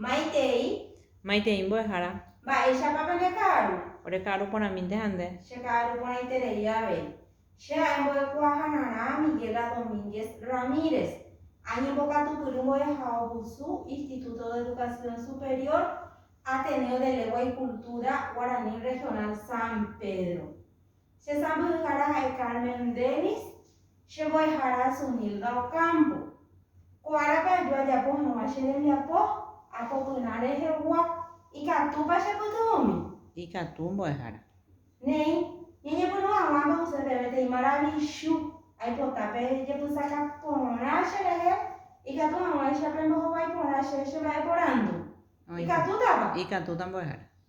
Maitei. Maitei mbo'ehára. Mba'éichapa pende ka'aru. Ore ka'aru porãmínte ha nde. Che ka'aru porãiterei avei. Che ha'e mbo'ekuaahararã Miguela Domínguez Ramírez. Añembokatupyry mbo'ehaovusu Instituto de Educación Superior, Ateneo de Legua y Cultura Guaraní Regional San Pedro. Che sãmbyhyhára ha'e Carmen Dennis, che mbo'ehára Zunilda Ocampo. Ko árape aju ajapo hag̃ua che rembiapo apopyrã rehegua, ikatúpa chepytyvõmi? Ikatu, mbo'ehára. Néi, ñañepyrũ hag̃ua ambyhyse peve peteĩ maravichu, aipota pejepysaka porã cherehe, ikatu hag̃uáicha pembohovái porã che chemba'eporandu. Ikatútapa? Ikatúta, mbo'ehára.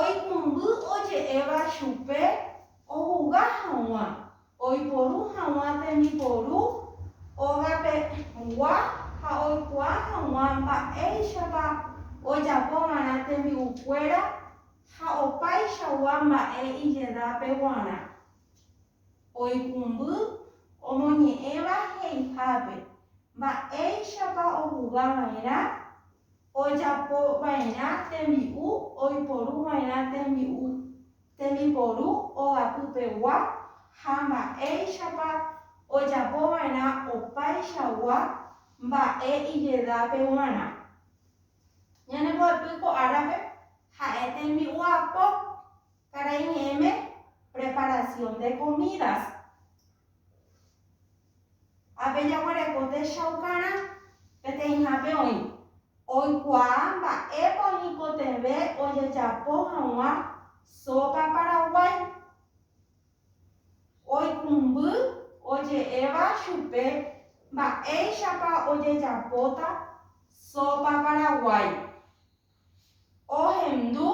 Oikũmby oje'éva chupe ohuga haguã oiporu haguã tembiporu ógape gua ha oikuaa haguã mba'éichapa ojapo va'erã tembi'u kuéra ha opáichagua mba'e ijedápe guarã. Oikũmby omoñe'ẽva he'ihápe mba'éichapa ohuga va'erã ojapo va'erã tembi'u oiporu va'erã tembi'u tembiporu ogapypegua ha mba'éichapa ojapo va'erã opaichagua mba'e ijedápe g̃uarã. Ñane mbo'epy ko árape ha'e tembi'u apo, karai ñe'ẽme preparación de comidas. Ha pe jaguereko techaukarã, peteĩhápe oĩ, oikuaa mba'épa oñekotevẽ ojejapo hag̃ua sópa paraguái. Oikũmby oje'éva chupe mba'éichapa ojejapóta sópa paraguái. ohendu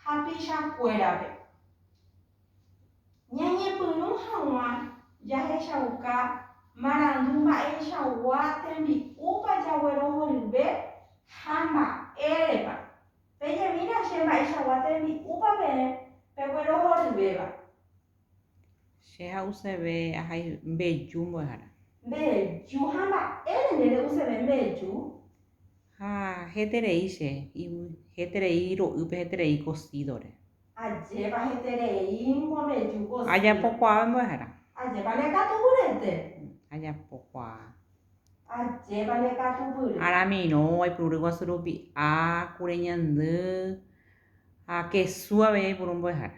hapichakuérape. Ñañepyrũ hag̃ua jahechauka marandu mba'eichagua tembi'úpa jaguerohoryve ha mba'érepa. Pejemína che mba'eichagua tembi'úpa peẽ peguerohoryvéva. Che ha'useve ahai mbeju mbo'ehára. Mbeju ha mba'ére nde re'useve mbeju? Ha heterei che yvy, heterei ro'ýpe, heterei kosídore. Ajépa hetereíngo mbeju kosído. Ajapokuaave mbo'ehára. Ajépa ne katu pyrete. Ajapokuaa. Ajépa ne katu pyre. Aramirõ, aipuru ryguasu rupi a, kure ñandy, ha kesu avei aipuru mbo'ehára.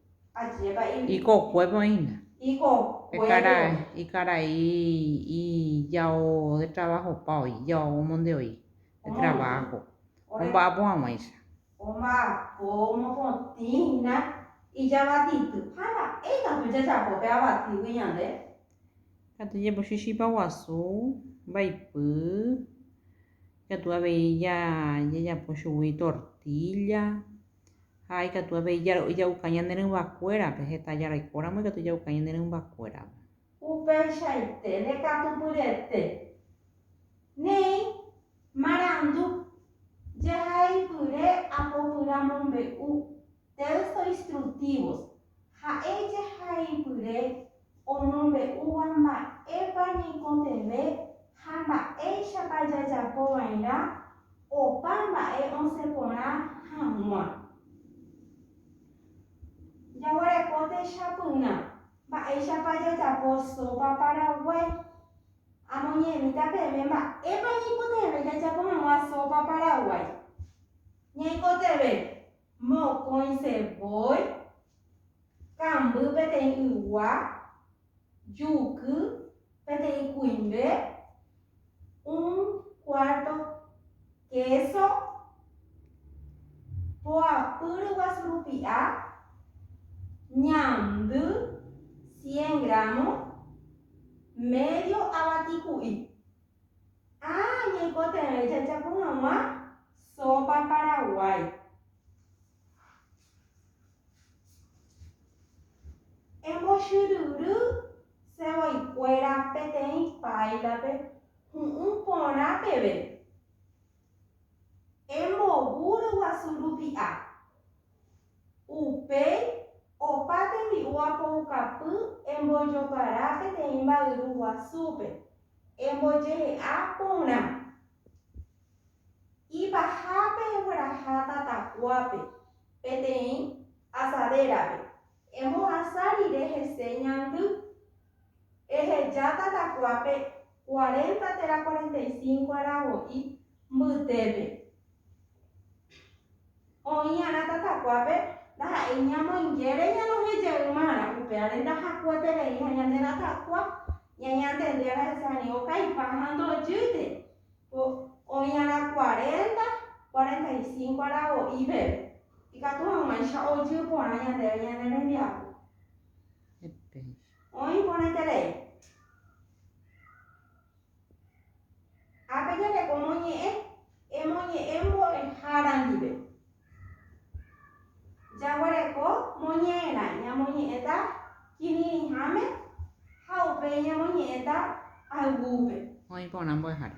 Ikokuépe oĩna. Ikarai ijao detravahopa oĩ, ijao omondevoi detravaho, omba'apo hag̃uáicha. Omba'apo mokõtĩ hína ijavatiky. Ha mba'e katu jajapo pe avatígui ñande? Ikatu jepochy chipa guasu, mbaipy, ikatu avei jajapo chugui tortílla. Ha ikatu avei jaro'y ja'uka ñane rỹmbakuérape, heta jaraikóramo ikatu ja'uka ñane rymbakuérape. Upeichaite rekatupyrete, néi marandu, jehaipyre apopyramombe'u, texto instructivos, Ha'e jehaipyre omombe'úva mba'épa ñaikotevẽ ha mba'éichapa jajapo va'erã opa mba'e osẽ porã hag̃ua. Jaguereko techapyrã mba'éichapa jajapo sópa paraguái. Amoñe'ẽmíta peẽme mba'épa ñaikotevẽ jajapo hag̃ua sópa paraguái. Ñaikotevẽ Mokõi sevói, kamby peteĩ ygua, juky peteĩ kuimbe, un cuarto queso, poapy ryguasu rupi'a, ñandy cien gramo, medio avati ku'i. Ha ñaikotevẽ jajapo hag̃ua sópa paraguái. Embochyryry sevoikuéra peteĩ páilape hu'ũ porã peve. Embovu ryguasu rupi'a. Upéi opa tembi'u apoukapy embojopara peteĩ mba'yru guasúpe. Embojehe'a porã. Ipahápe egueraha tatakuápe, peteĩ asadérape. Emohasa rire hese ñandy. Eheja tatakuápe cuarenta térã cuarenta y cinco arago'i mbytépe. Oĩ'arã tatakuápe ndaha'éi ñamoingére ñanohejeýma'arã upévare ndahakueterei ha ñande ratakua ñañantendiára hese ani okaipa ha ndojýte. Ko oĩ'arã kuarénta, kuarenta i sínko ára voi peve, ikatu hag̃uáicha ojy porã ñandéve ñane rembiapo. Oĩ porãiterei. Ha pejareko moñe'ẽ, emoñe'ẽ mbo'ehára ndive. Jaguereko moñe'ẽrã, ñamoñe'ẽta kirirĩháme ha upéi ñamoñe'ẽta ayvúpe. Oĩ porã mbo'ehára.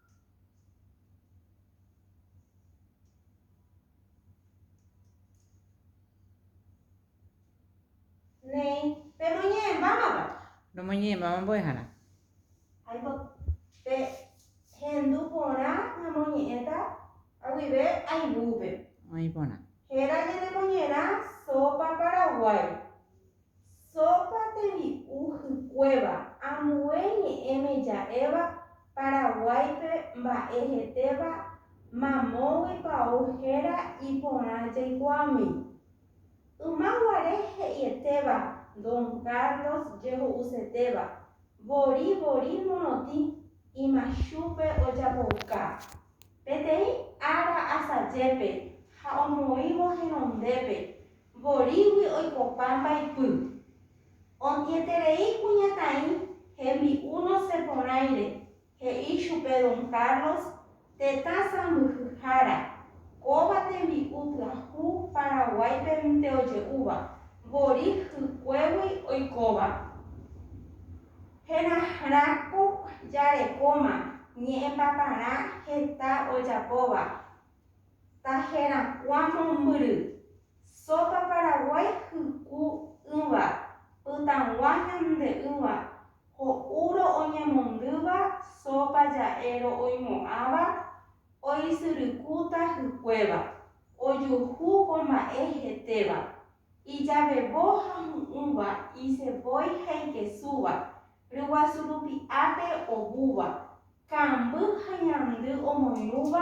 Néi, pemoñe'ẽ mávapa? Romoñe'ẽ máva mbo'ehára. Aipo, pe hendu porã namoñe'ẽta aguive aivúpe. Oĩ porã. Héra ñanemoñe'ẽrã Sopa Paraguái. Sópa tembi'u hykuéva, ambue ñe'ẽme ja'éva Paraguáipe mba'e hetéva mamógui pao héra iporã jaikuaámi. Yma guare he'ietéva Don Carlos jeho'usetéva, vori vori morotĩ imachúpe ojapouka. Peteĩ ára asajépe ha omoĩvo henondépe, vorígui oikopã mbaipy. Ontieterei kuñataĩ hembi'u nosẽ porãire, he'i chupe Don Carlos, tetã sãmbyhyhára, kóva tembi'u pyahu Paraguáipe rỹnte oje'úva, vorí hykuégui oikóva. Herahrãko jarekóma ñe'ẽpaparã heta ojapóva, Tajerakuã mombyry, Sópa Paraguái hyku ỹva, pytãgua ñande ỹva, ho'úro oñemondýva sópa ja'éro oimo'ãva, oisyrykúta hykuéva, ojuhu ko mba'e hetéva, ijavevo ha hu'ũva, isevói ha ikesúva, ryguasu rupi ápe ovúva, Ka'amby ha ñandy omoirũva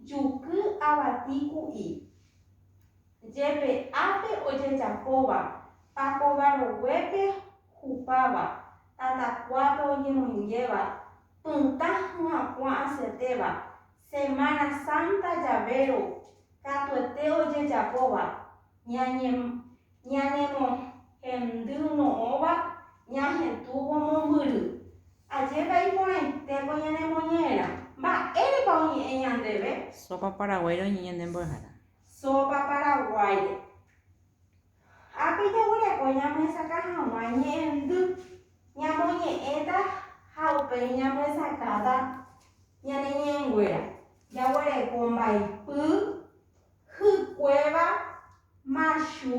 juky avati ku'i. Jepe ápe ojejapóva, pakova roguépe hupáva, tatakuápe oñemoingéva, pytã hyakuã asyetéva, Semana Santa Llavero katuete ojejapóva, ñañe, ñanemohendy no'õva ñahetũvo mombyry, Ajépa iporãitéko ñanemoñe'ẽrã. Mba'érepa oñe'ẽ ñandéve? Sópa Paraguáire oñe'ẽ ñande mbo'ehára. Sópa Paraguáire. Ápe jaguereko ñamyesakã hag̃ua ñe'ẽndy. Ñamoñe'ẽta ha upéi ñamyesakãta ñane ñe'ẽnguéra. Jaguereko mbaipy, hykuéva, machu,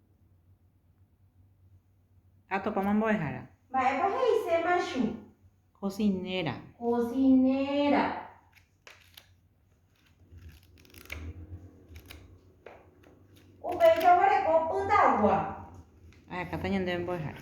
Ha topáma mbo'ehára. Mba'épa he'ise machu? Kosinéra. Kosinéra. Upéicha oguereko pytagua. Ahekáta ñandéve mbo'ehára.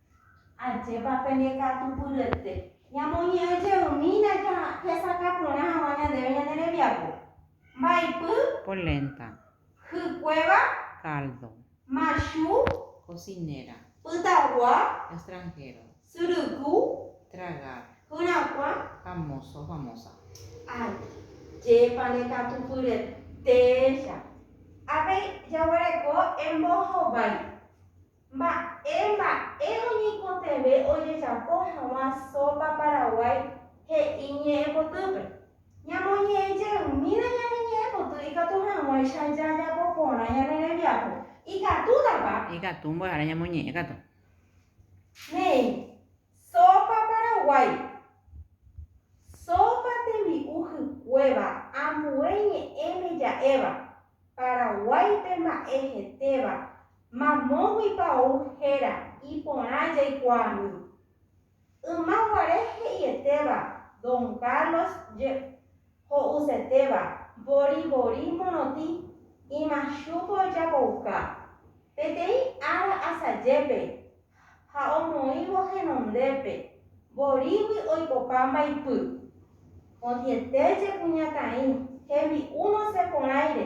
Ajépa pende katupyryete! Ñamoñe'ẽ jeymína jahesakã porã hag̃ua ñandéve ñane rembiapo. Mbaipy. Polenta. Hykuéva. Caldo. Machu. Cocinera. Pytagua. Extranjero. Syryku. Tragar. Hyrakua. Famoso, famosa. Ajépa ne katupyretécha! Avei jaguereko embohovái. Mba'e mba'e oñeikotevẽ ojejapo haguã sópa Paraguái he'i ñe'ẽpotýpe. Ñamoñe'ẽ jeymína ñane ñe'ẽpoty ikatu hag̃uáicha jajapo porã ñane rembiapo. Ikatútapa? Ikatu mbo'ehára ñamoñe'ẽ katu. Néi, sópa Paraguái. Sópa tembi'u hykuéva, ambue ñe'ẽme ja'éva. Paraguái pe mba'e hetéva, mamóguipa ou héra iporã jaikuaami. Yma guare he'ietéva Don Carlos je ho'usetéva Boribori morotĩ imachúpe ojapouka. Peteĩ ára asajépe ha omoĩvo henondépe, vorígui oikopa mbaipy. Odieté jekuñataĩ hembi'u noseporãire,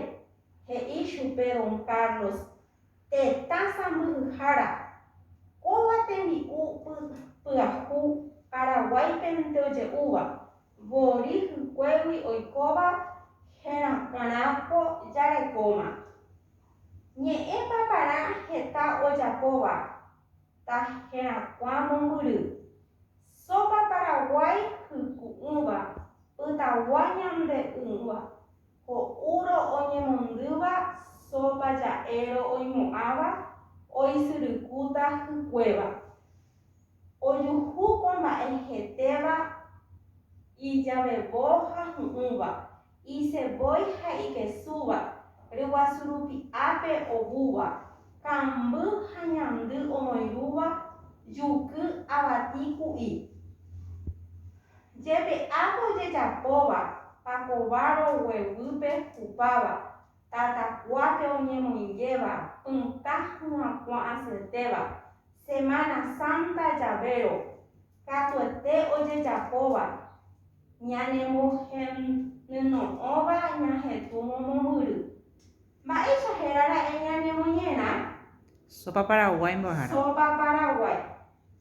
he'i chupe don Carlos, tetã sãmbyhyhára. Kóva tembi'u pyahu Paraguáipe nte oje'úva. Vori hykuégui oikóva herakãra po jarekóma. Ñe'ẽ paparã heta ojapóva ta herakuã mombyry. Sópa paraguái hyku'ỹva, pytagua ñande'ỹva, ho'úro oñemondýva sópa ja'éro oimo'ãva oisyrykúta hykuéva. Ojuhu ko mba'e hetéva ijavevo ha hu'ũva, isevói ha ikesúva, ryguasu rupi ápe ovúva, kamby ha ñandy omoirũva, juky, avati, ku'i. Jepe'ápe ojejapóva pakova rogueguýpe hupáva. Tatakuápe oñemoingéva pytã hu'ãkuã asyetéva, Semana Santa javérõ, katuete ojejapóva, ñanemohenyno'õva ñahetũ momombyry. Mba'éicha hérara'e ñanemoñe'ẽrã? Sopa paraguái mbo'ehára. Sopa paraguái.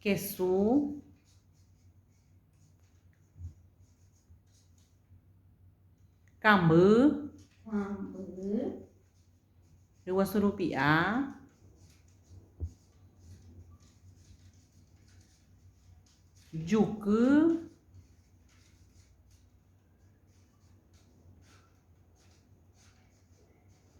Kesu, kamby, ryguasu rupi'a, juky,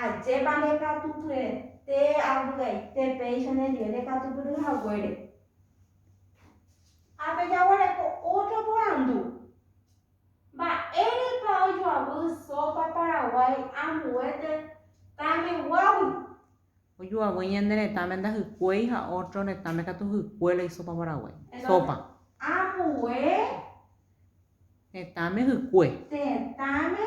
Ajépa ndekatupyete avy'aite péicha nendive ndekatupyry haguére. Ha pejaguereko ótro porandu, Mba'érepa ojoavy sópa Paraguái ambuéte tameguágui? Ojoavy ñane retãme ndahykuéi ha ótro retãme katu hykue la isópa Paraguái. Sópa. Ambue. Tetãme hykue. Tetãme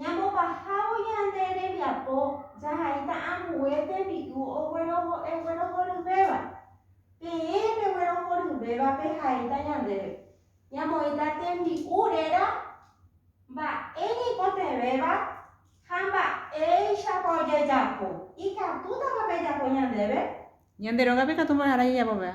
Ñambopahávo ñande rembiapo jahaíta ambue tembi'u oguerohoryvéva. Peẽ peguerohoryvéva pehaíta ñandéve, ñamoĩta tembi'u réra mba'e ñaikotevẽva ha mba'éichapa ojejapo. Ikatútapa pejapo ñandéve? Ñande rógape ikatu mbo'ehára jajapopeva.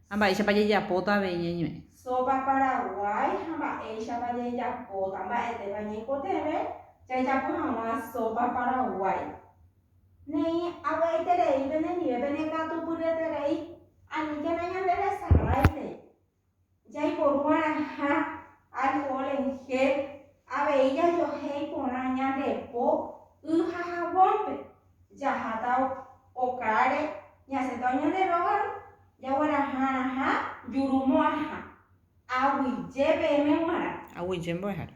Ha mba'éichapa jejapóta avei ñeñu'ẽ. Sopa Paraguái ha mba'éichapa jejapóta. Mba'etépa ñaikotevẽ jajapo hag̃ua sopa Paraguái. Neĩ avy'aiterei penendive penekatupyryeterei aníkena ñande resaráite jaiporu'arãha alcohol en gel avei jajohéi porã ñande po y ha jabón-pe. jaháta okáre, ñasẽta oñande rógagui, jagueraha'arãha jurumo'ãha, aguyje peẽme g̃uarã. Aguyje mbo'ehára.